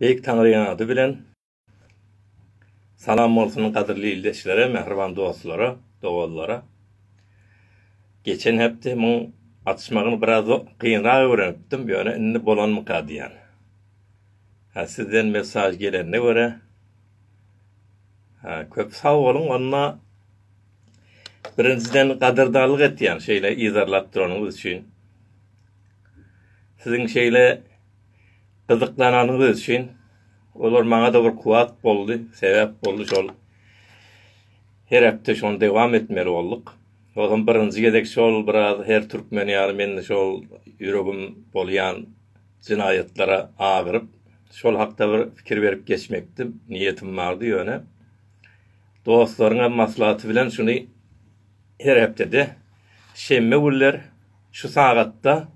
Beýik Taňryň ady bilen Salam bolsun gadyrly ildeşlere, mähriban dostlara, doganlara. Geçen hepde muň atyşmagyny biraz gynrak öwrenipdim, ýöne indi bolanmyka diýýän. Hä, sizden mesaž gelende görä. Hä, köp sag boluň, onda Birinjiden gadyrdanlyk etýän şeýle yzarlap duranyňyz üçin. Siziň şeýle gyzyklananyňyz üçin olar maňa-da bir kuwat boldy, sebäp boldy şol. Her hepde şony dowam etmeli bolduk. Ozam birinji gezek şol biraz her türkmen ýaly men şol ýüregim bolýan jenaýatlara agyryp, şol hakda bir pikir berip geçmekdi niýetim bardy ýöne Dostlaryňa maslahaty bilen şuny her hepdede şenbe günler şu sagatda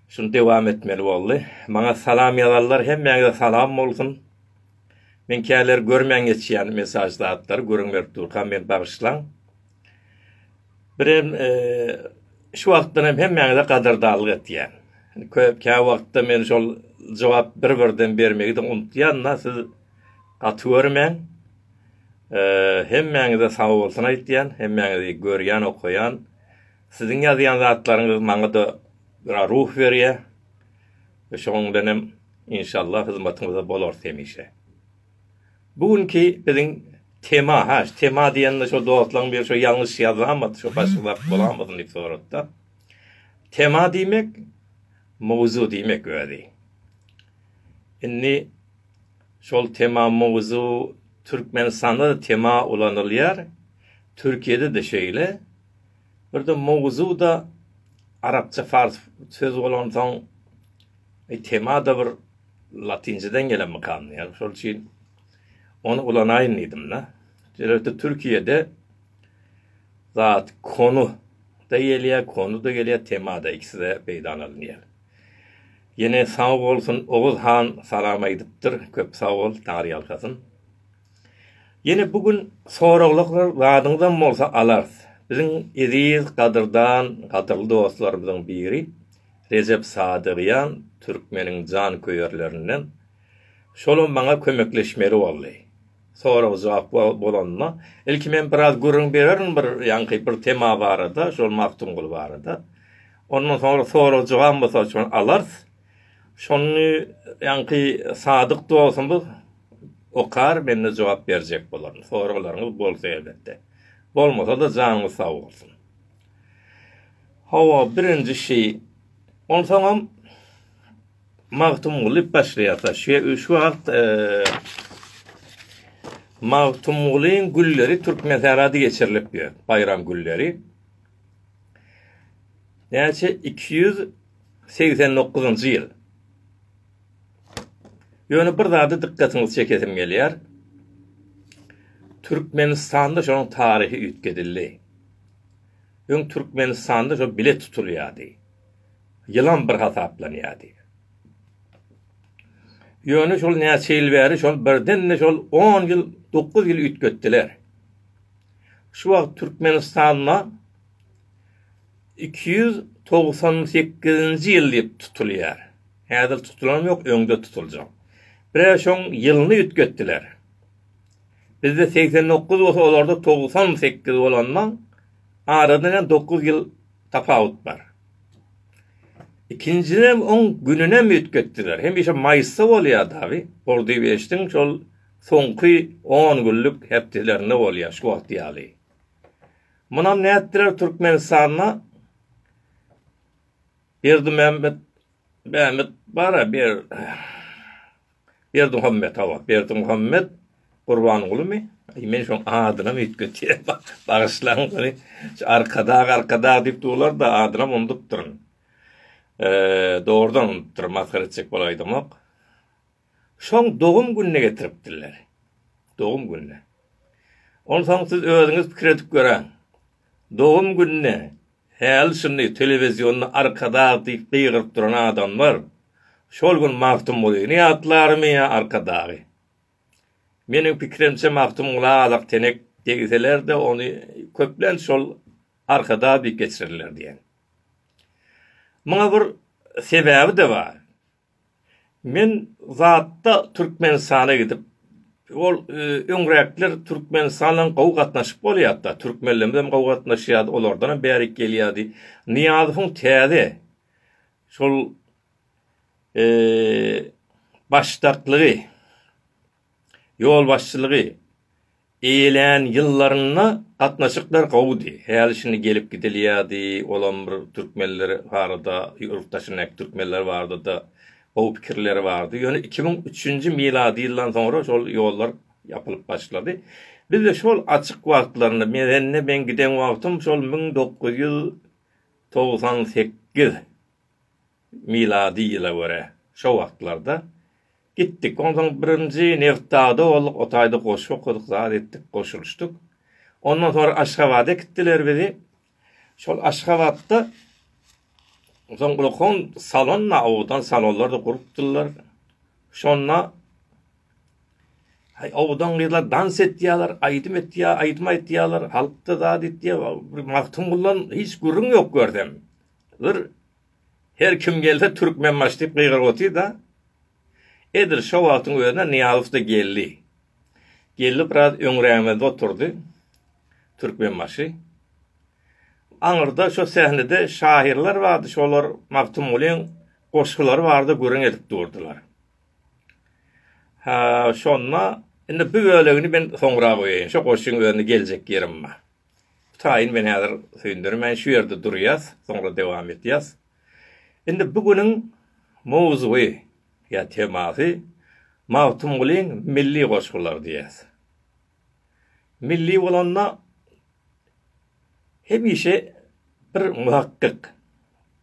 şuny dewam etmeli boldy. Maňa salam ýazanlar hemmäňize salam bolsun. Men käleri görmän geçýän mesaj zatlary gürrüň berip durkam meni bagyşlaň. Birem şu wagtdan hem hemmäňize gadyrdanlyk etýän. Köp kä wagtda men şol jogap bir-birden bermegi de unutýan-da, siz gaty görmäň. Hemmäňize sag bolsun aýtýan, hemmäňizi görýän, okaýan. Siziň ýazýan zatlaryňyz maňa-da biraz ruh berýär. Şonuň bilen hem inşallah hyzmatyňyzda bolarys hemişe. Bu günki biziň tema, ha şu tema diýende şo dostlaň biri şo ýalňyş ýazamady, şo başga zat bolamady diýip sorapda. Tema diýmek mowzu diýmek özi. Indi şol tema mowzu Türkmenistanda da tema ulanylýar. Türkiýede de şeýle. Bir de mowzu da arapça fars söz bolansoň e, tema da bir Latyncadan gelen mykam diýýär. Şol üçin ony ulanaýyn diýdim-de. Şeýlelikde Türkiýede zat konu da gelýär, konu da gelýär, tema-da ikisi-de peýdana alynýar. Ýene sag bolsun, Oguz han salam aýdypdyr. Köp sag bol, Taňry ýalkasyn. Ýene bu gün soraglyklar zadyňyzam bolsa alarys. Biziň eziz, gadyrdan, gadyrly dostlarymyzyň biri. Rejep Sadygýan türkmeniň janköýerlerinden. Şolam maňa kömekleşmeli boldy. Sorag-jogap bolanda, ilki men biraz gürrüň bererin bir ýaňky bir tema barada, şol Magtymguly barada. Ondan soňra sorag-jogap mysal üçin alarys. Şony ýaňky sadyk dostumyz okar, men-de jogap berjek bolaryn. Soraglaryňyz bolsa elbetde. Bolmasa-da janyňyz sag bolsun. Hawa, birinji şi. Onsoňam Magtymguly başlaýarsa, şe şu wagt Magtymgulyň gülleri Türkmensährada geçirilip ýör, baýram gülleri. Näçe? Iki ýüz segsen dokuzynjy ýyl. Ýöne bir zada dykgatyňyzy çekesim gelýär. Türkmenistanda şonuň taryhy üýtgedildi. Öň Türkmenistanda şo bilet tutulýardy. Ýylam bir hasaplanýardy. Ýöne şol näçe ýyl bäri şol birden-de şol on ýyl, dokuz ýyl üýtgetdiler. Şu wagt Türkmenistanda iki ýüz togsan sekizinji ýyl diýip tutulýar. Häzir tutulanam ýok, öňde tutuljak. Bir-ä şoň ýylyny üýtgetdiler. Bizde segsen dokuz bolsa olarda togsan sekiz bolandan arada ýa dokuz ýyl tapawut bar. Ikinjinem oň gününem üýtgetdiler. Hemişe maýysda bolýardy abi. Ordubişdiň şol soňky on günlük hepdelerinde bolýar şu wagt ýaly. Munam nätdiler Türkmenistanda Berdimämmet Mehmet bara ber Berdimuhammet hawa Berdimuhammet Gurbangulymy? Aý men şoň adynam üýtgetýän bagyşlaň ony arkadag arkadag diýip durlar-da adynam unudupdyryn. Eee dogrudan unudupdyryn masgara etjek bolup aýdamok. Şoň dogum gününe getiripdirler. Dogum gününe. Onsoň siz özüňiz pikir edip göräň. Dogum gününe häli-şindi telewizionda Arkadag diýip gygyryp duran adamlar şol gün Magtymgulyny ýatlarmy ýa Arkadagy? Meniň pikirimçe Magtymgula alak tenek degseler-de ony köplenç şol Arkadag diýip geçirerler diýen. Muňa bir sebäbi-de bar. Men zatda Türkmenistana gidip, ol öňräkler Türkmenistan bilen gowy gatnaşyp bolýardy-da, türkmenlerimiz hem gowy gatnaşýardy, olardan hem bärik gelýärdi. Nyýazowyň täze şol başdaklygy, Ýolbaşçylygy eýelän ýyllarynda gatnaşyklar gowudy. Häli şindi gelip gidilýärdi. Olam bir türkmenler barada, ýurt daşyndaky türkmenler barada-da gowy pikirleri bardy. Ýöne iki müň üçünji milady ýyldan soňra şol ýollar ýapylyp başlady. Bizde şol açyk wagtlarynda, mende men giden wagtym şol müň dokuz ýüz togsan sekiz milady ýyla görä, şo wagtlarda, Gitdik. Onsoň birinji Nebtdagda bolduk, o taýda goşgy okadyk, zat etdik, goşulyşdyk. Ondan soň Aşgabada äkitdiler bizi. Şol Aşgabatda soň ulkan salonda, owdan salonlarda gurupdyrlar. Şonda Hay owdan gyzlar dans etýärler, aýdym etýär, aýdym aýdýarlar, halkda zat etýär. Bir Magtymguldan hiç gürrüň ýok görsem. Bir Her kim gelse Türkmenbaşy diýip gygyryp otyrda, edil şo wagtyň özünde Nyýazow-da geldi. Geldi biraz öňrägimizde oturdy Türkmenbaşy. Aňyrda şo sähnede şahyrlar bardy, şolar Magtymgulyň goşgulary barada gürrüň edip durdylar. Ha, şonda indi bu bölegini men soňra goýaýyn, şo goşgyň özünde geljek ýerim bar. Taýyn men häzir söýündirmän şu ýerde durýas, soňra dowam edýäs. Indi bu günüň mowzugy ýa temasy Magtymgulyň milli goşgulary diýýäs. Milli bolanda hemişe bir muhakkyk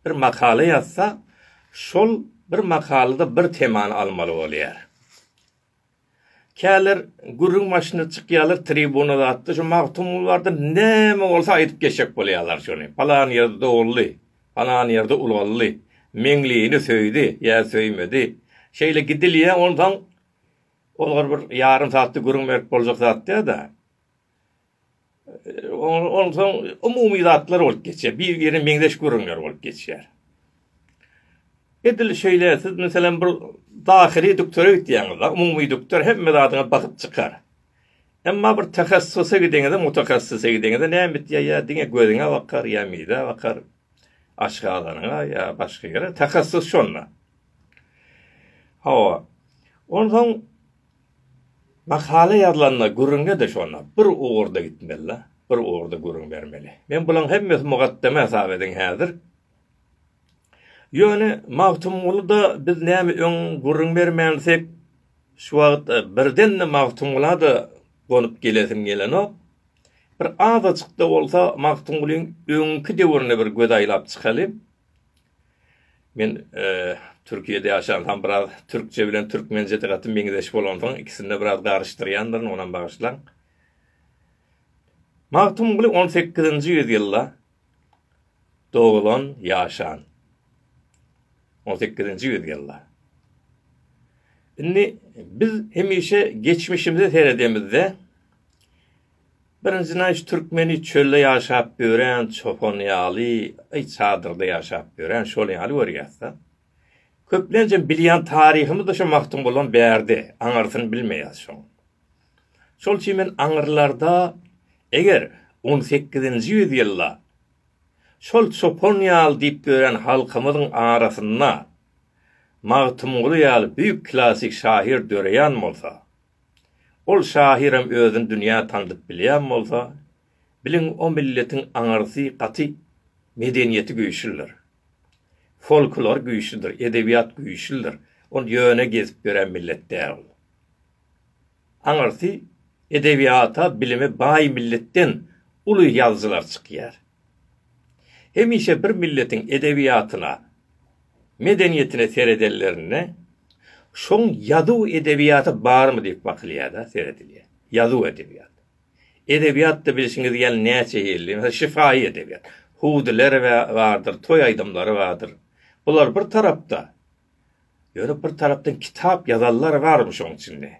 bir makala ýazsa, şol bir makalada bir temany almaly bolýar. Käler gürrüň başyna çykýarlar tribuna zatda şu Magtymguly barada näme bolsa aýdyp geçjek bolýarlar şony. Palan ýerde doguldy, palan ýerde ulgaldy, Meňlini söýdi ýa söýmedi. Şeýle gidilýär onsoň olar bir ýarym saatda gürrüň berip boljak zat däl-de. Onsoň umumy zatlar bolup geçýär. Bir-birine meňzeş gürrüňler bolup geçýär. Edil şeýle siz meselem bir dahyly doktora gitýäňiz-de, umumy doktor hemme zadyňa bakyp çykar. Emma bir tehassusa gideňizde, mutahassisa gideňizde näme etýär? Ýa diňe gözüňe bakar, ýa mizä bakar, aşgazanyňa ýa başga ýere. Tehassus şonda. Hawa. Onsoň Makala ýazylanda gürrüňe-de şonda bir ugurda gitmeli-de, bir ugurda gürrüň bermeli. Men bularyň hemmesi mugaddeme hasap ediň häzir. Ýöne Magtymguly-da biz näme öň gürrüň bermänsek, şu wagt birden-de Magtymgula-da gonup gelesim gelenok. Bir azajyk-da bolsa Magtymgulyň öňki döwrüne bir göz aýlap çykaly. Men Türkiýede ýaşansam biraz türkçe bilen türkmençe gaty meňzeş bolansoň ikisinde biraz garyşdyrýandyryn onam bagyşlaň. Magtymguly 18-nji ýüz ýylda doglan ýaşan. 18-nji ýüz ýylda. Indi biz hemişe geçmişimize seredemizde Birinji naýyş türkmeni çölde ýaşap ýören çopan ýaly, eý çadyrda ýaşap ýören şol ýaly görýäsda. Köplenjem bilýän taryhymyzda şu Magtymgulam bärde, aňyrsyny bilmeýäs şoň. Şol üçin men aňyrlarda eger on sekizinji ýüz ýylda şol çopan ýaly diýip ýören halkymyzyň arasynda Magtymguly ýaly büýük klassyk şahyr döreýän bolsa, Ol şahyram özüni dünýä tandyp bilýän bolsa, biliň o milletiň aňyrsy gaty, medeniýeti güýçlüdir. Folklor güýçlüdir, edebiýat güýçlüdir. Ol ýöne gezip ýören millet däl. Aňyrsy edebiýata, bilime baý milletden uly ýazyjylar çykýar. Hemişe bir milletiň edebiýatyna, medeniýetine seredenlerinde, şoň ýazuw edebiýaty barmy diýip bakylýar-da, seredilýär. Ýazuw edebiýat. Edebiýat-da bilşiňiz ýaly näçe hilli. Meselem, şyfaýy edebiýat. Hudyler bardyr, toý aýdymlary bardyr. Bular bir tarapda, Ýöne bir tarapdan kitap ýazanlar barmy şoň içinde?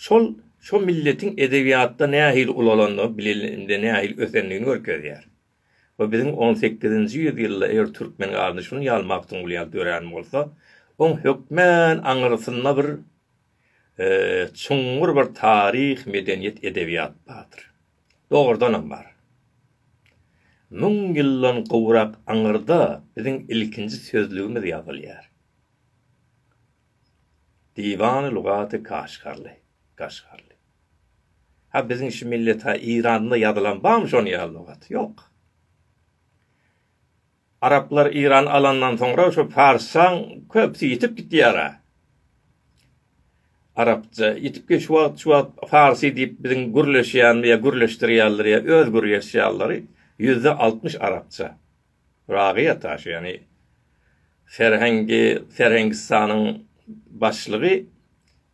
Şol şo milletiň edebiýatda nähili ulalandygy bilinende nähili ösendigini görkezýär. Bu biziň on sekizinji ýüz ýylda eger türkmen galyny şuny ýaly Magtymguly ýaly dörän bolsa, oň hökmän aňyrsynda bir çuňňur bir taryh, medeniýet, edebiýat bardyr. Dogrudanam bar. Müň ýyldan gowrak aňyrda biziň ilkinji sözlügimiz ýazylýar. Diwany lugaty Kaşgarly, Gaşgarly. Ha biziň şu millet ha Iranda ýazylan barmy şonuň ýaly lugat? Ýok. Araplar Iran alandan soňra şu Farsaň köpsi ýitip gitýara. Arapça ýitip git şu wagt şu wagt Farsy diýip biziň gürleşýän ýa gürleşdirýärler ýa öz gürgeşýärleri ýüzde altmyş Arapça. Ragy ýata şu ýany Serhengi Serhengistanyň başlygy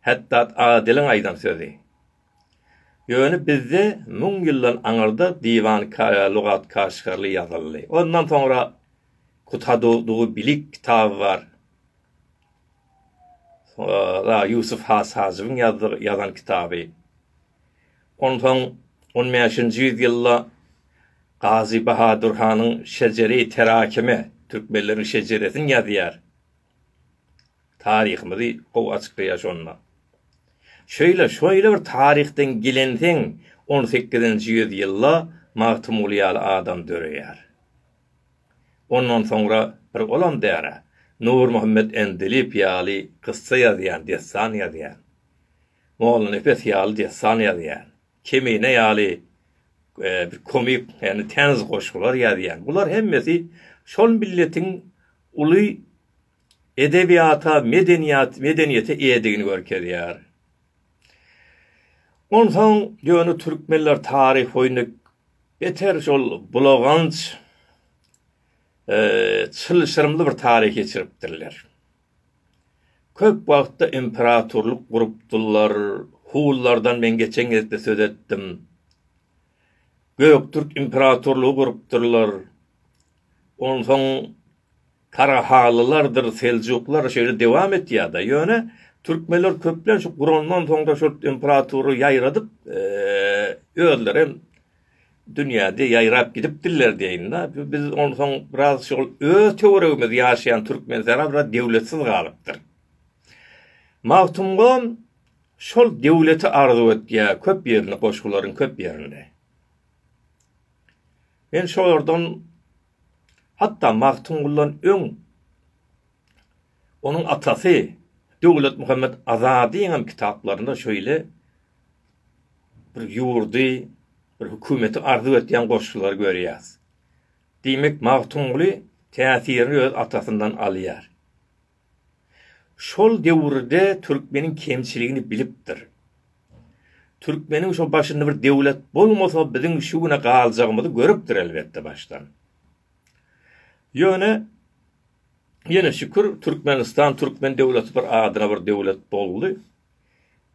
Hetdat Adiliň aýdan sözi. Ýöne bizde müň ýyldan aňyrda Diwan-Kaya Lugat-Kaşgarly ýazyldy. Ondan soňra Kuthadudubilik kitaby bar. Soňra Ýusuf has Hajybyň ýazan kitaby. Ondan soň on bäşinji ýüz ýylda Gazy Bahadur hanyň Şejere-i Terakime, Türkmenleriň şejeresini ýazýar. Taryhymyzy gowy açyklaýar şonda. Şeýle, şeýle bir taryhdan gelensiň, on sekizinji ýüz ýylda Magtymguly ýaly adam döreýär. Ondan soňra bir olam däl-ä, Nurmuhammet Endiliýew ýaly kyssa ýazýan, dessan ýazýan. Mollanepes ýaly dessan ýazýan. Kemine ýaly bir komik, ýagny täniz goşgular ýazýan. Bular hemmesi şol milletiň uly edebiýata, medeniýat, medeniýete eýedigini görkezýär. Onsoň ýöne türkmenler taryh boýundy beter şol bulaganç çylşyrymly bir taryh geçiripdirler. Köp wagtda imperatorlyk gurupdyrlar, hunlardan men geçen gezde söz etdim. Göktürk imperatorlygy gurupdyrlar. Onsoň Tarahalylardyr Seljuklar şeýle dewam etýär-de, ýöne türkmenler köplenç gurandan soňra şol imperatory ýaýradyp, özleri hem dünýäde ýaýrap gidipdirler diýeýin-de. Biz onsoň biraz şol öz töweregimizde ýaşaýan Türkmenistana biraz döwletsiz galypdyr. Magtymgulam şol döwleti arzuw etýär köp ýerinde, goşgularyň köp ýerinde. Men şolardan hatda Magtymguldan öň onuň atasy Döwletmuhammet Azadyň hem kitaplarynda şeýle bir ýurdy, bir hökümeti arzuw etýän goşgulary görýäs. Diýmek, Magtymguly täsirini öz atasyndan alýar. Şol döwürde türkmeniň kemçiligini bilipdir. Türkmeniň şo başynda bir döwlet bolmasa biziň şu güne galjagymyzy görüpdir elbetde başdan. Ýöne ýene şükür Türkmenistan türkmen döwleti bir adyna bir döwlet boldy.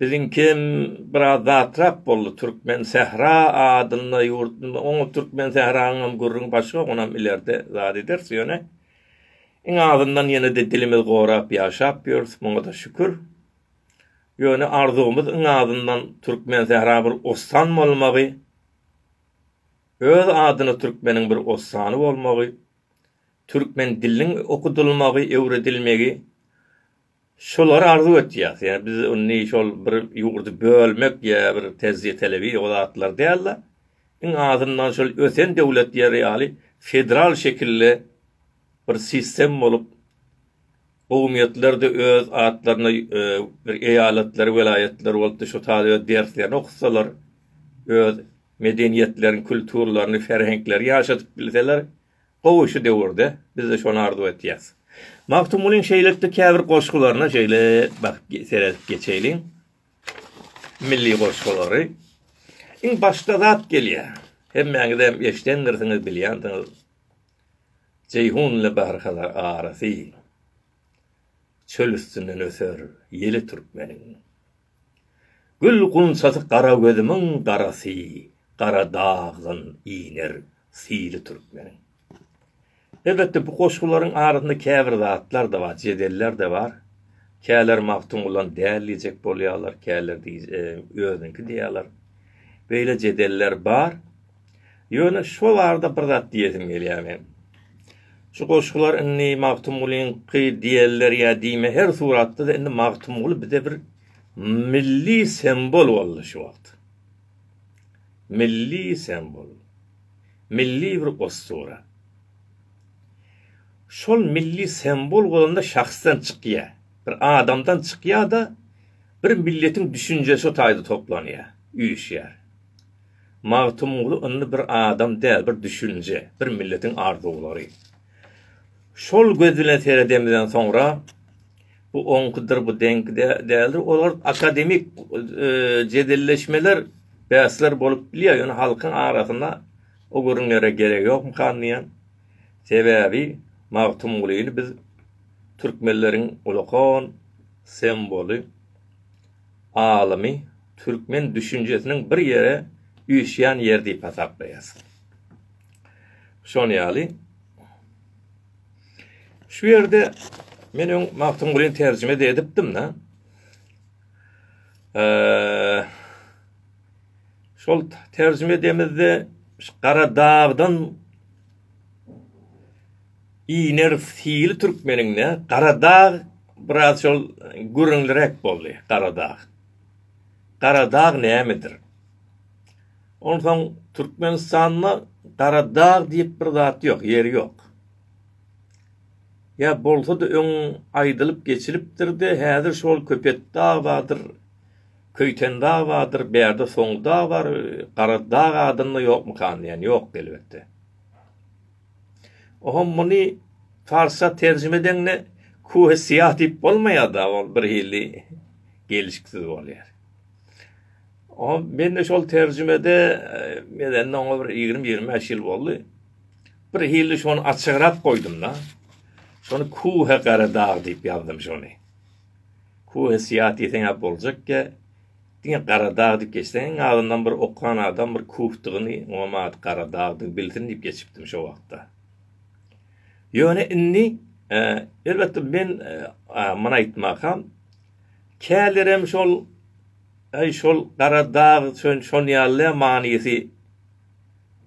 Biziňkem biraz zatrak boldy Türkmen sähra adynda ýurt oňa Türkmen sähraňam gürrüňi başga onam ilerde zat ederis ýöne iň azyndan ýene-de dilimiz gorap ýaşap ýörüs muňada şükür ýöne arzuwymyz iň azyndan Türkmen sähra bir ossan bolmagy öz adyna Türkmeniň bir ossany bolmagy Türkmen diliniň okudylmagy öwredilmegi Şolary arzuw etýäs. Ýa biz indi şol bir ýurdy bölmek ýa bir tejribe telebi o zatlar däl-de, iň azyndan şol ösen döwletleri ýaly federal şekilli bir sistem bolup, gowumyýetler de öz atlaryna bir eýalatlar, welaýatlar bolup-da şo taýda öz derslerini okutsalar, öz medeniýetlerini, kulturlaryny, ferheňklerini ýaşadyp bilseler, Gowy şu döwürde bizde şony arzuw etýäs. Magtymgulyň şeýlelikde käbir goşgularyna şeýle bakyp seredip geçeýliň. Milli goşgulary. Iň başda zat gelýä. Hemmäňizem eşdendirsiňiz, bilýänsiňiz. Jeýhun ile Bahrhazar arasy. Çöl üstünden öser ýeli türkmeniň. Gül gunçasy gara gözümiň garasy gara dagdan iner syly türkmeniň. Elbetde bu goşgularyň arasynda käbir zatlar-da bar, jedeller-de bar. Käler Magtymgulan däl diýjek bolýarlar, käler özüniňki diýýärler. Beýle jedeller bar. Ýöne şo barada bir zat diýesim gelýär meň. Şu goşgular indi Magtymgulyňky diýerler ýa diýme her suratda-da indi Magtymguly bize bir milli sembol boldy şu wagt. Milli sembol. Milli bir ossura. Şol milli sembol bolanda şahsdan çykýar. Bir adamdan çykýar-da bir milletiň düşünjesi o taýda toplanýar, üýşýär. Magtymguly indi bir adam däl, bir düşünje, bir milletiň arzuwlary. Şol göz bilen seredemizden soňra, bu oňkydyr, bu deňki däldir, olar akademik e, jedelleşmeler, bäsler bolup bilýär, ýöne halkyň arasynda o gürrüňlere gerek ýokmykan diýen. Sebäbi Magtymgulyny biz türkmenleriň ulakan semboly alymy türkmen düşünjesiniň bir ýere üýşýän ýeri diýip hasaplaýas. Şol ýaly şu ýerde men öň Magtymgulyny terjime edipdim da. Eee şol terjime edemizde Garadagdan Iner hili türkmeniňde Garadag biraz şol gürrüňliräk boldy, Garadag. Garadag nämedir? Onsoň Türkmenistanda Garadag diýip bir zat ýok, ýeri ýok. Ýa bolsa-da öň aýdylyp geçilipdir-de, häzir şol Köpetdag bardyr, Köýtendag bardyr, bärde Soňudag bar, Garadag adynda ýokmykan diýen. Ýok elbetde. Oho muny parsça terjime edeňde kuhe siyah diýip bolmaýar-da, ol bir hili gelişiksiz bolýar. O men de şol terjimede medende oňa bir 20-25 ýyl boldy. Bir hili şony açygrap goýdum-da. Şony kuhe gara dag diýip ýazdym şony. Kuhe siyah diýseň ýa boljak ýa Diňe Garadag diýip geçseň, iň azyndan bir okan adam bir Kuhdygyny, oňam ady Garadagdygy bilsin diýip geçipdim şo wagtda. Ýöne indi, elbetde, men muny aýtmakam, kälerem şol, Äý, şol Garadag, şön, şon ýaly-a manysy,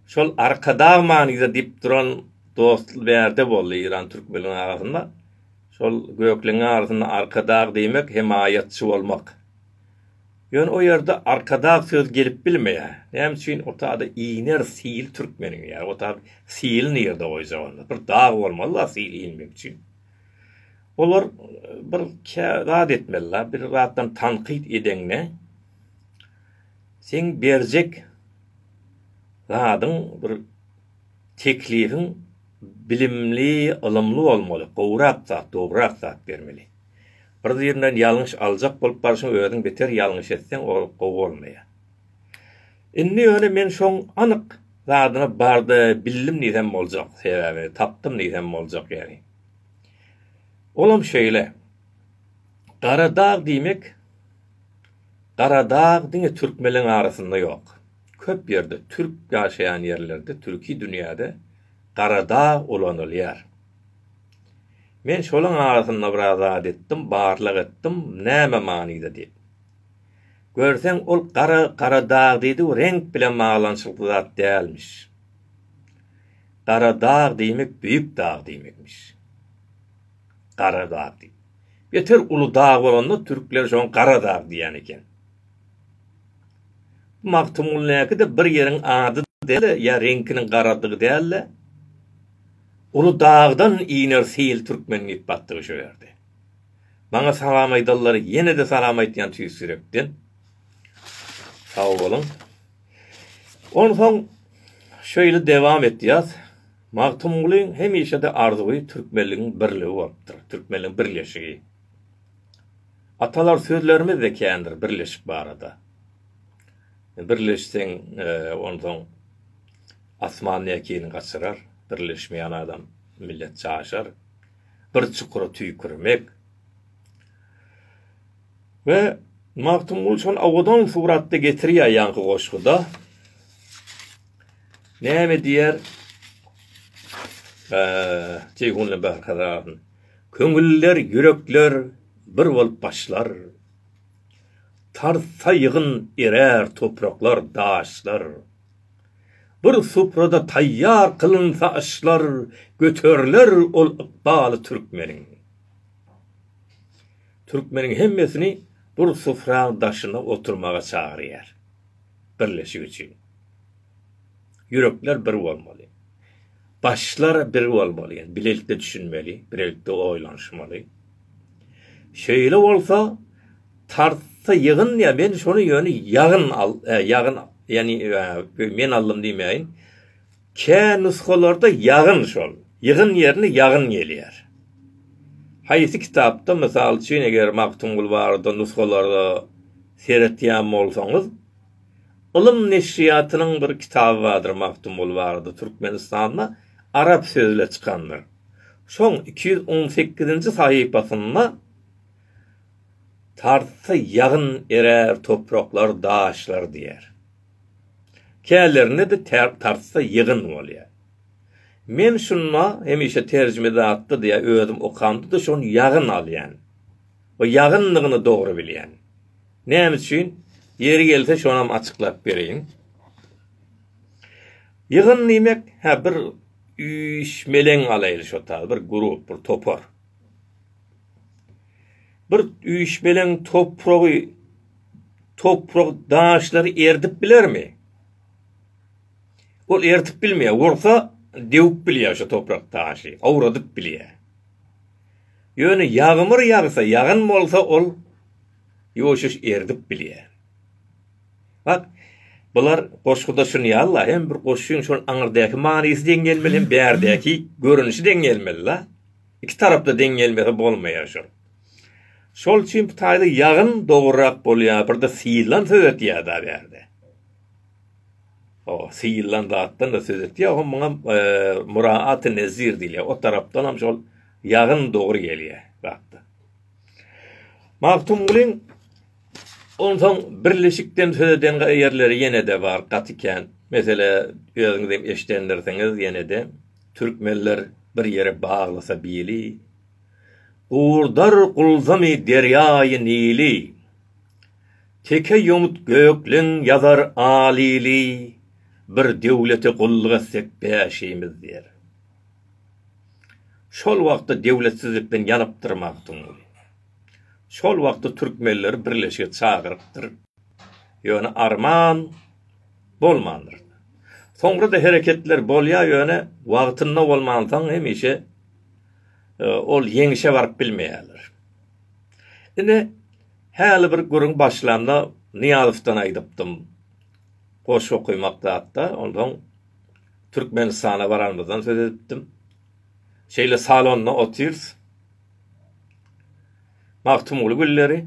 şol Arkadag manyda diýip duran dost bärde boldy Iran Türkmeliň arasynda. Şol gökleňiň arasynda Arkadag diýmek, hemaýatçy bolmak. Ýöne o ýerde arkadag söz gelip bilmeýär. Näme üçin o tada iner sili türkmeniň ýa o tada sili nirde goýjak onda. Bir dag bolmaly la sil inmek üçin. Olar bir kä zat etmeli la bir zatdan tankyt edeňde seň berjek zadyň bir teklibiň bilimli ylymly bolmaly gowrak zat dogrurak zat bermeli. Bir birinden ýalňyş aljak bolup barşyň özüň beter ýalňyş etseň ol gowy bolmaýar. Indi ýöne men şoň anyk zadyna barda bildim diýsem boljak sebäbi tapdym diýsem boljak ýeri. Olam şeýle. Gara dag diýmek Gara dag diňe türkmeleň arasynda ýok. Köp ýerde türk ýaşaýan ýerlerde türki dünýäde gara dag ulanylýar. Men şolaň arasynda biraz zat etdim, barlag etdim, näme manyda diýip. Görseň, ol gara Garadag diýdi-u reňk bilen baglanyşykly zat dälmiş. Garadag diýmek beýik dag diýmekmiş. Garadag diýip. Beter uly dag bolanda türkler şoňa Garadag diýen eken. Bu Magtymgulynyňky-da bir ýeriň ady däl-de, ýa reňkiniň garadygy däl-de. Uly dagdan iner sil türkmen diýip batdygy şu ýerde. Maňa salam aýdallar ýene-de salam aýtýan tüýs ýürekden. Sag boluň. Onsoň şeýle dewam etýäs. Magtymgulyň hemişe-de arzuwy türkmenligiň birligi bolupdyr, türkmenligiň birleşigi. Atalar sözlerimiz-de kändir birleşik barada. Birleşseň, onsoň. Asman ekin gaçyrar, birleşmeýän adam, millet caşar. Bir çukura tüýkürmek. We Magtymguly şony owadan suratda getirýär ýaňky goşguda. Näme diýer? Ceyhunly Berkadaryn. Köňüller, ýürekler bir bolup başlar. Tarsa ýygyn erer topraklar, daşlar. Bir suprada taýýar kylynsa aşlar, Göteriler ol ykbaly türkmeniň. Türkmeniň hemmesini bir supraň daşyna oturmaga çagyrýar. Birleşik üçin. Ýürekler bir bolmaly. Başlar bir bolmaly. Bilelikde düşünmeli, bilelikde oýlanyşmaly. Şeýle bolsa tartsa ýygyn ýa men şony ýöne ýagyn al ýagyn ýani men aldym diýmäýin kä nusgalarda ýagyn şol ýygyn ýerine ýagyn gelýär haýsy kitapda mysal üçin eger magtymguly barada nusgalarda seretýän bolsaňyz ylym neşirýatynyň bir kitaby bardyr magtymguly barada türkmenistanda arap sözle çykandyr. Şoň iki ýüz on sekizinji sahypasynda Tartsa ýagyn erär topraklar, daşlar diýýär. Kälerinde-de tartsa ýygyn bolýar. Men şunda hemişe terjimedatda diýýär, özüm okamda-da şony ýagyn alýan we ýagyndygyny dogry bilýän. Näme üçin? Ýeri gelse şonam açyklap bereýin. Ýygyn diýmek, hä bir Üýşmeleň galaýyl şo taýy bir grup bir topar. Bir üýşmeleň topragy toprak daşlary erdip bilermi? Ol erdip bilmeýär. Ursa dewip bilýär şo toprak daşy, awradyp bilýär. Ýöne ýagmyr ýagsa, ýagyn bolsa ol ýuwaş-ýuwaş erdip bilýär. Bak, bular goşguda şuny ýaly-la, hem bir goşgyň şol aňyrdäki manysy deň gelmeli, hem bärdäki görnüşi deň gelmeli-la. Iki tarapda deň gelmese bolmaýar şol. Şol üçin bu taýda ýagyn dogrurak bolýar, birde syýylan söz etýär-dä bärde. O, syýylan zatdan-da söz etýär, hom muňa muraat-i nezir diýilýär. O tarapdanam şol ýagyn dogry gelýär, bak-da. Magtymgulyň onsoň birleşikden söz eden ýerleri ýene-de bar, gaty kän. Meselä, özüňiz hem eşidendirsiňiz ýene-de, Türkmenler bir ýere baglasa bili, Gurdar gulzamy derýaýy Nili, Teke ýomut gökleň ýazar al ili, Bir döwlete gulluk etsek bäşimiz diýer. Şol wagtda döwletsizlikden ýanypdyr Magtymguly. Şol wagtda türkmenleri birleşige çagyrypdyr. Ýöne arman bolmandyr. Soňra-da hereketler bolýar, ýöne wagtynda bolmansoň hemişe ol ýeňişe baryp bilmeýärler. Ine, häli bir gürrüň başlanda Nyýazowdan aýdypdym. Goşgy okaýmakda hakda, onsoň. Türkmenistana baranymyzdan söz edipdim. Şeýle salonda otyrys. Magtymguly günleri.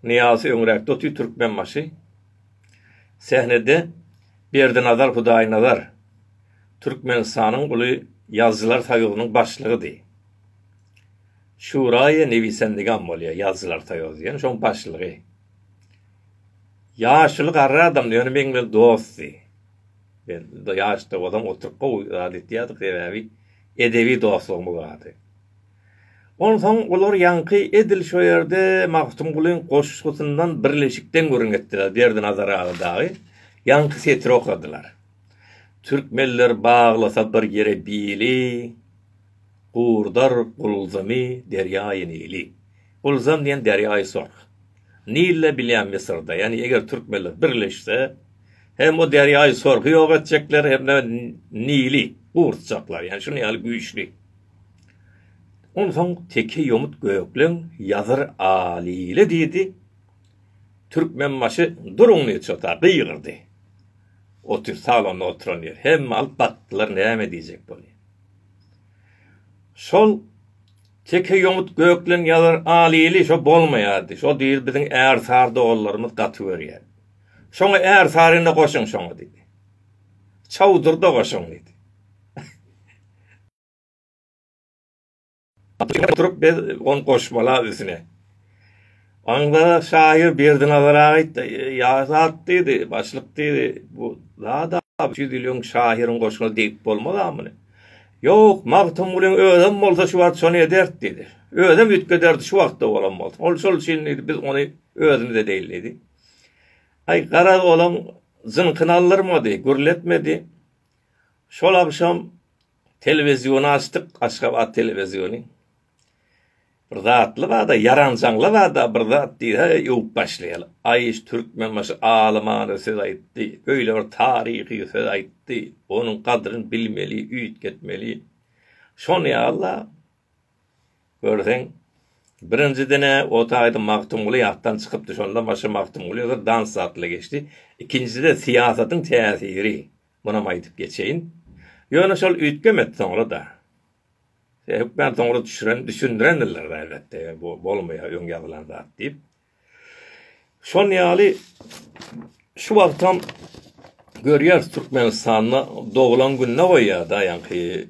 Nyýazy öňräkde otyr Türkmenbaşy. Sähnede Berdinazar Hudaýnazar, Türkmenistanyň uly Ýazyjylar soýuzynyň başlygydy. Şuraýy newisendigam bolýar, Ýazyjylar soýuzy diýen, şoň başlygy. Ýaşuly garry adamdy, ýöne meň bilen dostdy. Biz ýaşda bolan oturyp gowy zat etýärdik, sebäbi edebi dostlugymyz bardy. Onsoň olar ýaňky edil şo ýerde Magtymgulyň goşgusyndan birleşikden gürrüň etdiler, Berdinazar aga dagy ýaňky setiri okadylar, Türkmenler baglasa bir ýere bili, Gurdar gulzumy derýaýy Nili. Ulzam diýen derýaýy sorg. Nille bilýän Mysyrda, ýagny eger türkmenler birleşse, hem o derýaýy sorgy ýok etjekler, hem-de Nili gurutjaklar, ýagny şunuň ýaly güýçli. Onsoň teke ýomut gökleň ýazyr Alile diýdi. Türkmenbaşy duruň diýdi çota, gygyrdy. Otur salonda oturan ýer. Hemme alyp bakdylar näme diýjek bony. Şol Teke ýomut gökleň ýazar al ili şo bolmaýardy şo diýr biziň är sar doganlarymyz gaty görýär. Şoňa är sar indi goşuň şoňa diýdi. Çawdyrda goşuň diýdi. Oturyp biz on goşmala üsüne. Aňzada şahyr Berdinazar aga aýtdy, Ýa zat diýdi, başlyk diýdi, bu zad-a üç ýüz ýyl öň şahyryň goşuna degip bolmaz-a muny. Ýok, Magtymgulyň özem bolsa şu wagt şony ederdi diýdi. Özem üýtgederdi şu wagtda bolan bolsa. Ol şol üçin diýdi, biz ony özümiz edeýin diýdi. Aý, garaz, olaň jynkyny aldyrmady, gürletmedi. Şol agşam telewiziony açdyk, Aşgabat telewiziony. Bir zatly bada ýaranjaňly bada bir zat diýse öwüp başlaýaly. Aý Türkmenbaşy alymana söz aýtdy, beýle bir taryhy söz aýtdy, onuň gadryn bilmeli, üýtgetmeli. Şony ýa-la görseň birinjiden-ä o taýda Magtymguly ýatdan çykypdy, şondan başga Magtymguly bir dans zatly geçdi. Ikinjide syýasatyň täsiri, munam aýdyp geçeýin. Ýöne şol üýtgemedi soňra-da. Hökman soňra düşüren, düşündirendirler elbetde, bu bolmaýar öň ýazylan zat diýip. Şon ýaly şu wagtam görýäris Türkmenistanda doglan gününe goýýar da ýaňky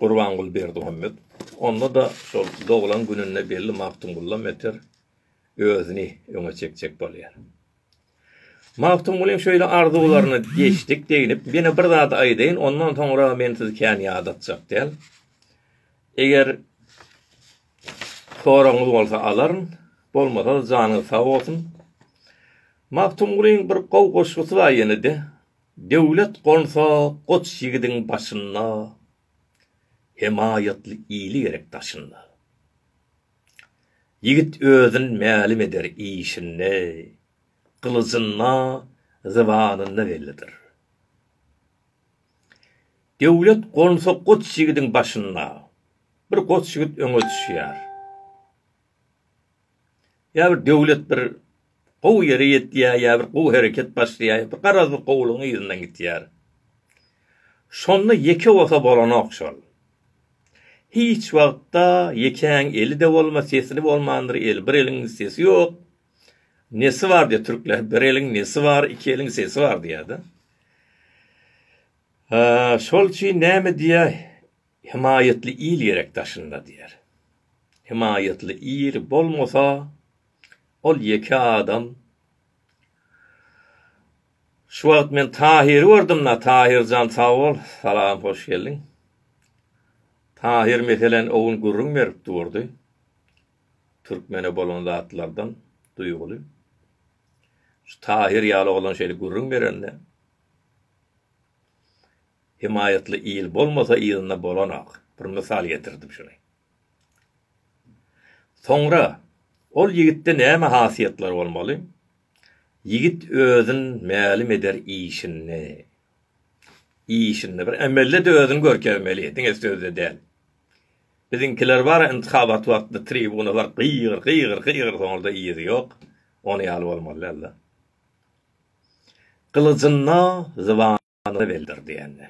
Gurbanguly Berdimuhammedov. Onda da şol doglan gününde belli Magtymgulla Meter özüni öňe çekjek bolýar. Magtymgulyň şeýle arzuwlaryna geçdik deginip, ýene bir zat aýdaýyn, ondan soňra men sizi kän ýadatjak däl. Eger soragyňyz bolsa alaryn, bolmasa janyňyz sag bolsun. Magtymgulyň bir gowy goşgusy bar ýene-de. Döwlet gonsa goç ýigidiň başynda, hemaýatly ili gerek daşynda. Ýigit özün mälim eder işinde, gylyjynda, zybanynda bellidir. Döwlet gonsa goç ýigidiň başyna, bir goç ýigit öňe düşýär. Ýa bir döwlet bir gowy ýere ýetýär, ýa bir gowy hereket başlaýar, bir garazly gowulygyň yzyndan gitýär. Şonda ýeke bolsa bolanok şol. Hiç wagtda ýekäň eli-de bolmaz, sesli bolmandyr el. Bir eliň sesi ýok. Nesi bar diýýär türkler, bir eliň nesi bar, iki eliň sesi bar diýýär-de. Şol üçin näme diýýär, Himaýatly il gerek daşynda diýýär. Himaýatly il bolmasa, Ol ýeke adam. Şu wagt men Tahyry gördüm-la, Tahyr jan sag bol. Salam, hoş geldiň. Tahyr meseleni o gün gürrüň berip durdy. Türkmene bolan zatlardan duýguly. Şu Tahyr ýaly oglan şeýle gürrüň berende, Hemaýatly il bolmasa ýylynda bolanok. Bir mysal getirdim şuny. Soňra, Ol ýigitde näme hasiýetler bolmaly? Ýigit özün mälim eder işinde. Işinde. Bir emelde-de özüni görkezmeli, diňe sözde däl. Biziňkiler bar, yntyhabat wagtynda tribuna baryp gygyr, gygyr, gygyr, soňra-da yzy ýok. Ony ýaly bolmaly däldir. Gylyjynda zyban. zybanyna beldir diýende.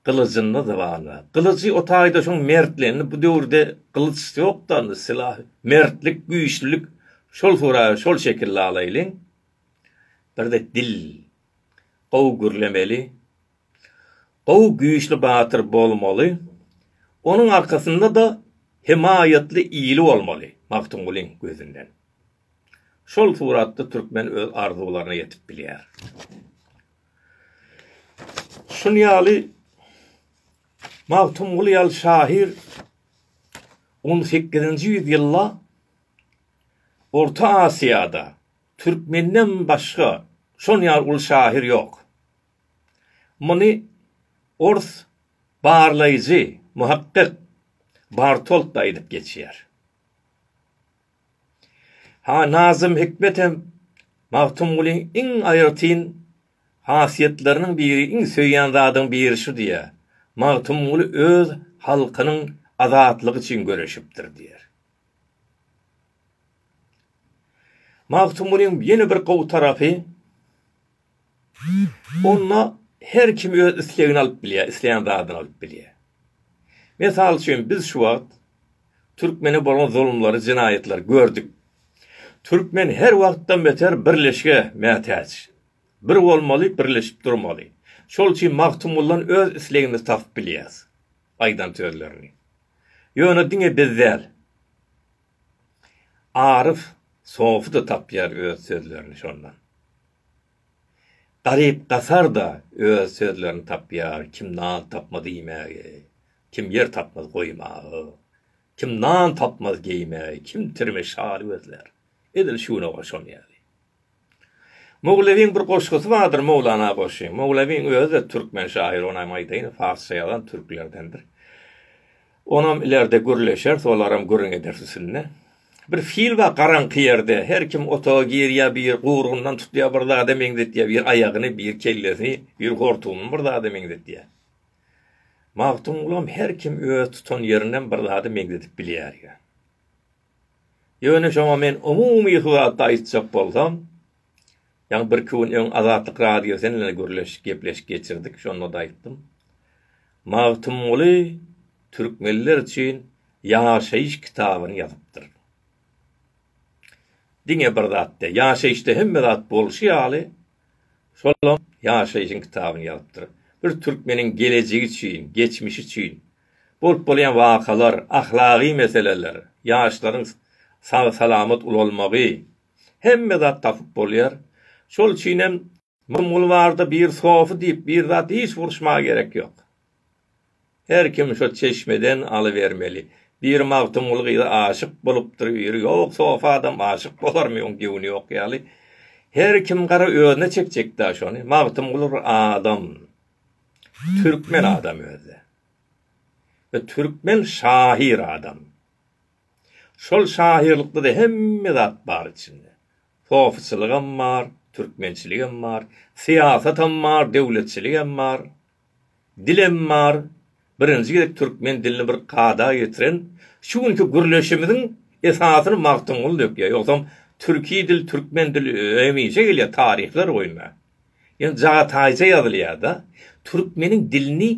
Gylyjyna zybanyna. Gylyjy o taýda şoň mertli. Indi bu döwürde gylyç ýokda indi sylah. Mertlik, güýçlülik şol suraýa şol şekilde alaýlyň. Birde dil gowy gürlemeli. Gowy güýçli batyr bolmaly. Onuň arkasynda-da hemaýatly ili bolmaly Magtymgulyň gözünden. Şol suratda türkmen öz arzuwlaryna ýetip bilýär. Şun ýaly Magtymguly ýaly şahyr on sekizinji ýüz ýylda Orta Asiýada türkmenden başga şon ýaly uly şahyr ýok. Muny ors barlaýjy, muhakkyk Bartolt-da aýdyp geçýär. Ha Nazym Hikmet hem Magtymgulyň iň aýratyn hasiýetleriniň biri, iň söýýän zadyň biri şu diýýär, Magtymguly öz halkynyň azatlygy üçin göreşipdir diýýär. Magtymgulyň ýene bir gowy tarapy, Onda her kim öz islegini alyp bilýär, isleýän zadyny alyp bilýär. Mysal üçin, biz şu wagt türkmene bolan zulumlary, jenaýatlary gördük. Türkmen her wagtdan beter birleşige mätäç. Bir bolmaly, birleşip durmaly. Şol üçin Magtymguldan öz islegimizi tapyp bilýäris, aýdan sözlerini. Ýöne diňe biz däl. Aryf sofy-da tapýar öz sözlerini şondan. Garyp-gasar-da öz sözlerini tapýar, kim nan tapmaz iýmäge, kim ýer tapmaz goýmaga, kim nan tapmaz geýmäge, kim tirme-şaly gözlär. Edil şunaga şon ýaly. Mowlewiň bir goşgusy bardyr Mowlana goşgy. Mowlewiň özi-de türkmen şaýyry, ony hem aýdaýyn, farsça ýazan türklerdendir. Onam ilerde gürleşeris, olaram gürrüň ederis üstünde. Bir fil bar garaňky ýerde. Her kim otaga girýär, biri gurgundan tutýar, bir zada meňzetýär, biri aýagyny, biri kellesini, biri hortumyny bir zada meňzetýär. Magtymgulam her kim öz tutan ýerinden bir zada meňzedip bilýär diýýär. Ýöne şoňa men umumy hybatda aýtjak bolsam, ýaňy birki gün öň Azatlyk Radiosy bilen gürleşik, gepleşik geçirdik, şonda-da aýtdym. Magtymguly türkmenler üçin ýaşaýyş kitabyny ýazypdyr. Diňe bir zatda, ýaşaýyşda hemme zat bolşy ýaly, şolam ýaşaýşyň kitabyny ýazypdyr. Bir türkmeniň gelejegi üçin, geçmişi üçin Bolup bolýan wakalar, ahlagy meseleler, ýaşlaryň sag-salamat ulalmagy, hemme zat tapyp bolýar. Şol üçin hem Magtymguly barada bir sofy diýip bir zat hiç uruşmaga gerek ýok. Her kim şo çeşmeden alybermeli. Biri Magtymguly gyza aşyk bolupdyr, biri ýok, sof adam aşyk bolarmy oň göwni ýok ýaly. Her kim gara özüne çekjekdä şony. Magtymguly bir adam. Türkmen adam özde. We türkmen şahyr adam. Şol şahyrlykda-da hemme zat bar içinde. Sofyçylygam bar, türkmençiligem bar, syýasatam bar, döwletçiligem bar, dilem bar. Birinji gezek türkmen dilini bir kada getiren şu günki gürleşimiziň esasyny Magtymguly dökýär. Ýogsam türki dil, türkmen dili hemişe gelýär, taryhlar boýunça. Ýöne Jagataýja ýazylýar-da, türkmeniň dilini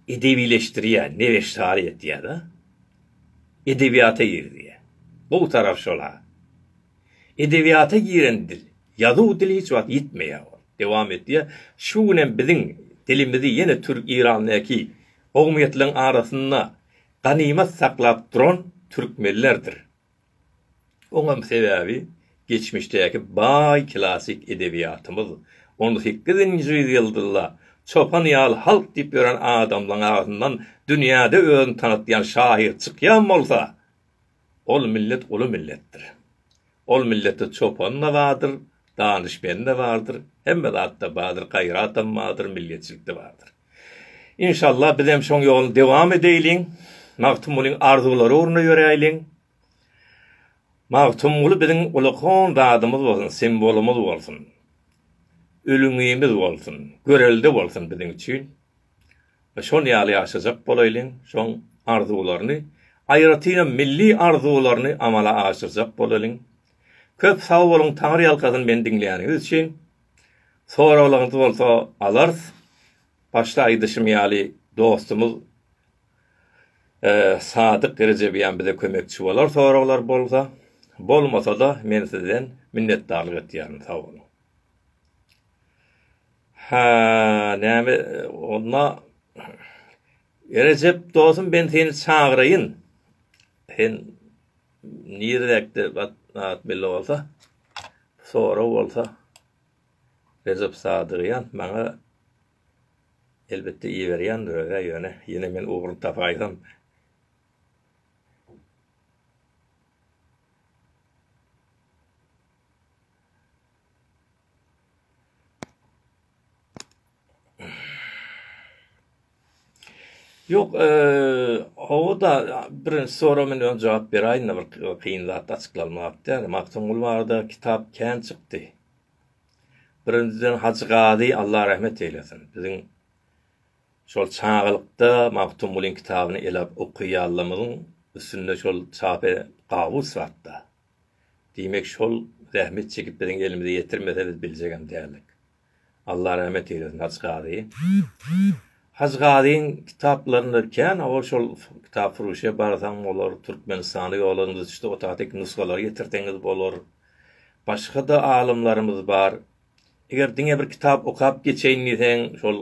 edebileşdirýär, nebeşsary etýär-de, edebiýata girizýär. Gowy tarapy şol-a. Edebiýata giren dil, ýazuw dili hiç wagt ýitmeýär. Dowam etýär. Şu gün hem biziň dilimizi ýene türk-irandäki kowumýetleriň arasynda ganymat saklap duran türkmenlerdir. Oňam sebäbi geçmişdäki baý klassyk edebiýatymyz, on sekizinji ýüzyýylda çopan ýaly halk diýip ýören adamlaň agzyndan dünýäde özüni tanatýan şahyr çykýan bolsa, ol millet uly milletdir. Ol milletde çopan-da bardyr, danyşmeni-de bardyr, hemme zat-da bardyr, gaýratam bardyr, milliýetçilik-de bardyr. Inşallah bizem şoň ýoluny dewam edeýliň, Magtymgulyň arzuwlary ugrunda ýöräýliň. Magtymguly biziň ulakon zadymyz bolsun, simwolumyz bolsun. Ülňimiz bolsun, görelde bolsun biziň üçin. Şol ýaly ýaşajak bolaýlyň, şoň arzuwlaryny, aýratynam milli arzuwlaryny amala aşyrjak bolaýlyň. Köp sag boluň, Taňryýalkasyn meni diňleýäniňiz üçin. Soraglaryňyz bolsa alarys. Başda aýdyşym ýaly dostumyz Sadyk Rejebian bize kömekçi bolar soraglar bolsa. Bolmasa-da men sizden minnetdarlyk etýärin. Sag boluň. Ha, näme onda Rejep dostum ben seni çagyraýyn. Sen niredäkde at belli bolsa. Sorag bolsa, Rejep Sadygýan maňa elbetde iberýändir öz-ä, ýöne ýene men ugruny tapaýsam. Ýok, hawa-da, birinji sorag men öň jogap beräýin-de, bir kyn zat açyklanmak däl. Magtymguly barada kitap kän çykdy. Birinjiden Hajy Gazy Allah rahmet eýlesin. Biziň şol çagalykda Magtymgulyň kitabyny ele alyp okaýanlarymyzyň üstünde şol çap gabus zatda. Diýmek, şol zähmet çekip biziň elimize ýetirmese biz biljegem däldik. Allah rahmet eylesin Hajy Gazy. Hajy Gazyň kitaplarynda kän ol şol kitap furuşa barsaň bolar, Türkmenistana ýollaryň düşdi otatik nusgalary getirseňiz bolar. Başga-da alymlarymyz bar. Eger diňe bir kitap okap geçeýin diýseň şol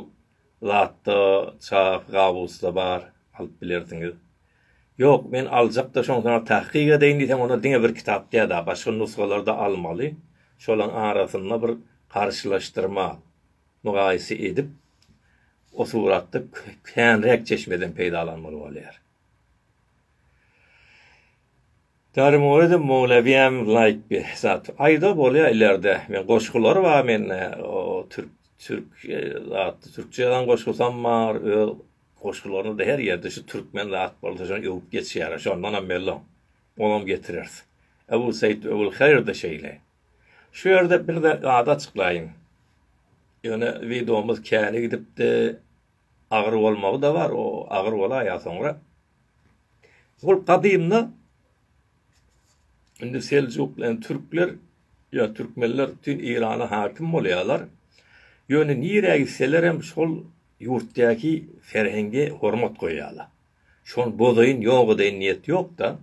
Latda, Çahy Gawusda bar, alyp bilersiňiz. Ýok, men aljak-da, şonsa-da tahkyk edeýin diýseň, onda diňe bir kitap däl-ä, başga nusgalary-da almaly. Şolaryň arasynda bir garşylaşdyrma, mygaýysy edip, o suratda känräk çeşmeden peýdalanmaly bolýar. Dary Moredim Mowlawiyam laýk bir zat. Aýda bolýa ilerde. Men goşgular bar mende. O türk türk zatda türkçe ýazan goşgusam bar. Öz Goşgularyny-da her ýerde şu türkmen zat bolsa şony öwüp geçýärler, şondanam mellom. Olam getireris. Ebu Seýit Öwülhaýyr-da şeýle. Şu ýerde bir zady açyklaýyn. Ýöne wideomyz käni gidipdi, agyr bolmagy-da bar, o agyr bolaý ýa soňra. Ol gadymda indi seljuk bilen türkler ýa türkmenler bütin Eýrana hakim bolýarlar. Ýöne nirä gitselerem şol Ýurtdaky serheňge hormat goýýarlar. Şony bozaýyn, ýok edeýin niýet ýok-da.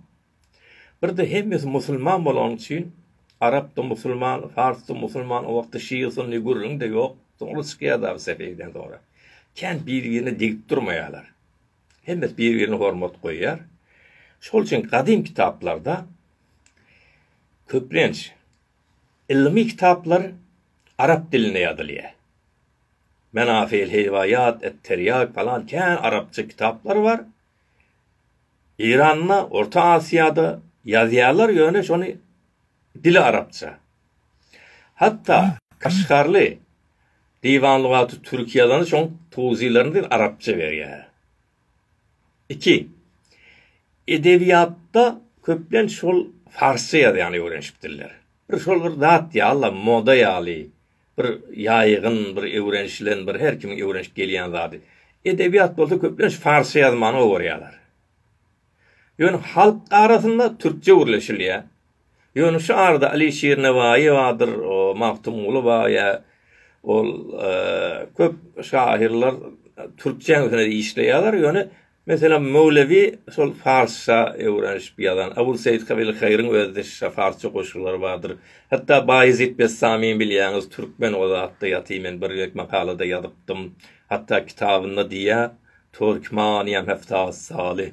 Bir-de hemmesi musulman bolany üçin, arap-da musulman, fars-da musulman, o wagtda şia, sunny, gürrüň-de ýok. Soňra çykýar dagy Sefewiden soňra. Kän bir-birine degip durmaýarlar. Hemmesi bir-birine hormat goýýar. Şol üçin gadym kitaplarda köplenç. Ylmy kitaplar arap dilinde ýazylýar. Menafyl Heýwaýat, Etterýag falan kän arapça kitaplar bar. Eýranda, Orta Asiýada ýazýarlar ýöne şony dili arapça. Hatda Kaşgarly Diwan lugaty Türki ýazany şoň towzylaryny arapça berýär. Iki. Edebiýatda köplenç şol farsça ýazýan öwrenişik diller. Bir şol bir zat ýal-a, moda ýaly, bir ýaýgyn, bir öwrenişilen, bir her kimiň öwrenişip gelýän zady. Edebiýat bolsa köplenç farsça ýazmany gowy görýärler. Ýöne halk arasynda türkçe gürleşilýär. Ýöne şu arada Aliý Şirnebaýewadyr, o Magtymguly bar ýa ol köp şahyrlar türkçe hili işleýärler, ýöne meselem Möwlewi şol farsça öwrenişip ýazan, Abul Seýit Kabil Haýryň özi şa farsça goşgulary bardyr. Hatda Baýezit Bessamiň bilýäňiz türkmen o zatda ýaty men bir gezek makalada ýazypdym. Hatda kitabynda diýýä Türkmaniýem hepdasy saly.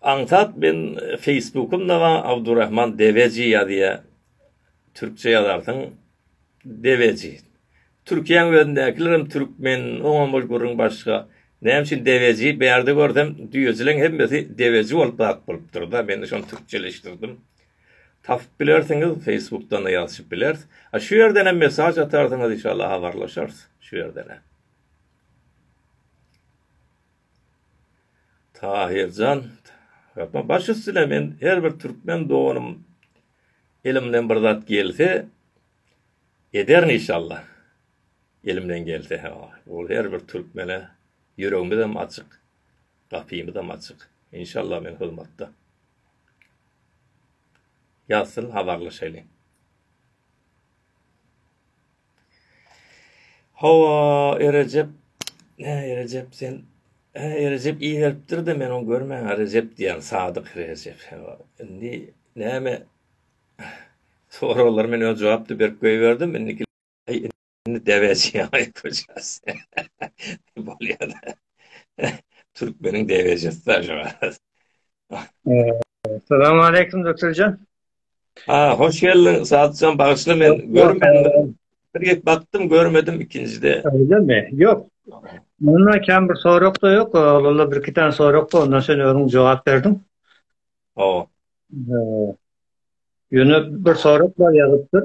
Aňsat men feýsbukymda bar Abdurahman Deveji ýazýa türkçe ýazarsyň Deveji. Türkiýäň özündäkilerem türkmen oňam ol gürrüň başga. Näme üçin Deveji bärde görsem düýejileň hemmesi Deveji bolup zat bolupdyrda mende şony türkçeleşdirdim. Tapyp bilersiňiz feýsbukdana ýazyşyp bileris. A şu ýerdenem mesaž atarsyňyz inşallah habarlaşarys şu ýerdenem. Tahyrjan, Ýapma, baş üstüne, men her bir türkmen doganym elimden bir zat gelse, ederin işalla. Elimden gelse, hä, ol her bir türkmene ýüregimizem açyk, gapymyzam açyk. Inşalla men hyzmatda. Ýazsyn, habarlaşaýlyň. Hawa, Erejep, hä, Erejep, sen, hä, Erejep iberipdir-de, men oňa görmän-ä Rejep diýýän, Sadyk Rejep, hawa. Indi näme, soraglaryma men öz jogap-da berip goýberdim, indiki, äý, indi däbeji, aý, köçäs, bolýa-da, türkmeniň däbejisi-dä şu, halas. Salamaleýkim, Dökürjen. Aa hoş geldiň Sadyjan bagyşla men görmedim. Bir gep bakdym görmedim ikinjide. Öyle mi? Yok. Munda kan bir sorak da yok. Ola bir iki tane sorak da ondan sen özün cevap berdiň. Oo. Ee, Yöne bir sorak da yazıptır.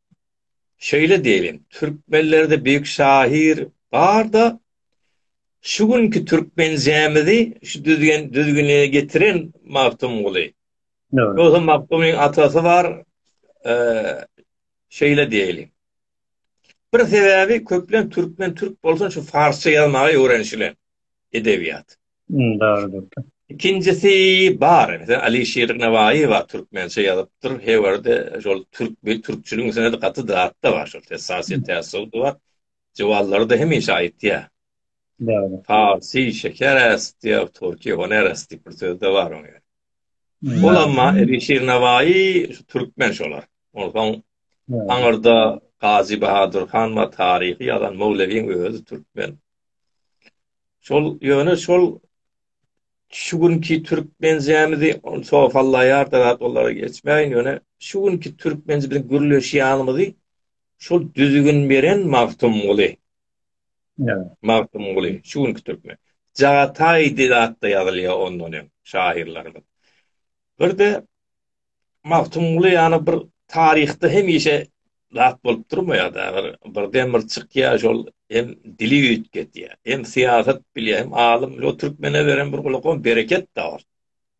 Şeýle diýeliň, türkmenlerde beýik şahyr bar-da, şu günki türkmençämizi şu düzgen düzgüne getiren Magtymguly. Ýogsa Magtymgulyň atasy bar, şeýle diýeliň. Bir sebäbi köplenç türkmen türk bolsun şu farsça ýazmagy öwrenişilen. edebiýat. Dogrudyr. Ikinjisi bar. Meselem, Alyşir Nawaýy bar, türkmençe ýazypdyr. Hebarda şol türk we türkçüligiň üstünde gaty zat-da bar. Şol Tesasýet tässup bar. Jywallary-da hemişe aýtýar. Dogry. Parsy şeker äst diýär, türki honer äst diýip bir söz-de bar oň ýaly. Ol emma Alyşir Nawaýy şu türkmen şolar. Onsoň aňyrda Gazy Bahadur han bar, taryhy ýazan, Möwlewiň özi türkmen. Şol ýöne şol şu günki türkmenjämizi sofallaýar da olara geçmäýin ýöne şu günki türkmenji biziň gürleşýänimizi şol düzgün beren Magtymguly. Ja. Magtymguly şu günki türkmen. Jagataý diýip atda ýazylýar ondan hem şahyrlarymyz. Bir de Magtymguly ýaly bir taryhda hemişe zat bolup durmaýar-da, bir, bir demir çykýar, şol hem dili üýtgedýär, hem syýasat bilýär, hem alym, şol türkmene beren bir gulakam bereket-de bar.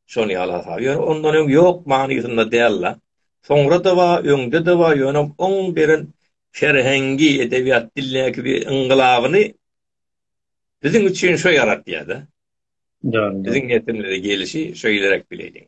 Şol ýaly hasap. Ýöne ondan öň ýok manysynda däl-de. Soňra-da bar, öňde-de bar, ýöne oň beren serhengi, edebiýat dilindäki bir yngylabyny biziň üçin şo ýaratýar-da. Dogry. Biziň nesilimize gelişi şeýleräk bileýin.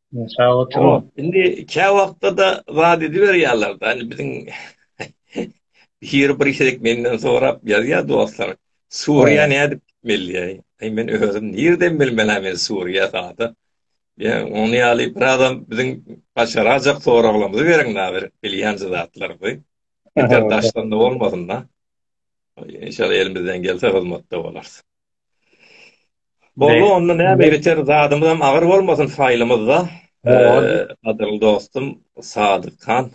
Sag oturyň. Indi kä wagtda-da wada ediberýärler-de. Indi biziň hir bir gezek menden sorap ýazýar dostlar. Suriýa nädip gitmeli? Aý men özüm nirden bilmelä men Suriýa sada. Ýa ony ýaly bir adam biziň başarajak soraglarymyzy beriň-la bir bilýän zatlarymyzy. Beter daşdan-da bolmasyn-da. Enşalla elimizden gelse hyzmatda bolarys. Boldy onda näme ýeter zadymyzam agyr bolmasyn faýlymyzda. Gadyrly dostum Sadyk han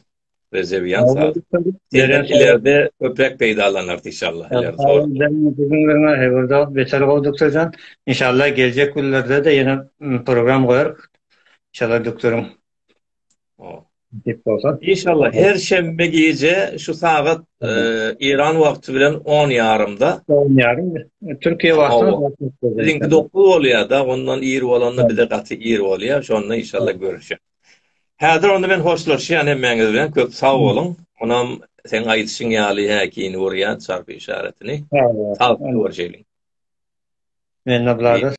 Rejebiýan Sadyk. Sizden ileride köpräk peýdalanarys inşallah. Hewrda beter gowy duktorjan. Inşallah geljek günlerde-de ýene program goýarys. Şeýle duktoryň Inşallah her şenbe gije şu sagat Eýran wagty bilen on ýarymda. On ýarym. Türkiýe wagty. Siziňki dokuz bolýar-da, ondan ir bolanda bize gaty ir bolýar. Şonda inşallah görüşeris. Häzir onda men hoşlaşýan hemmäňiz bilen. Köp sag boluň. Onam seň aýdyşyň ýaly häkini urýan çarpy işaretini. Sag boluň. Görüşeýlik. Mende bulardyr.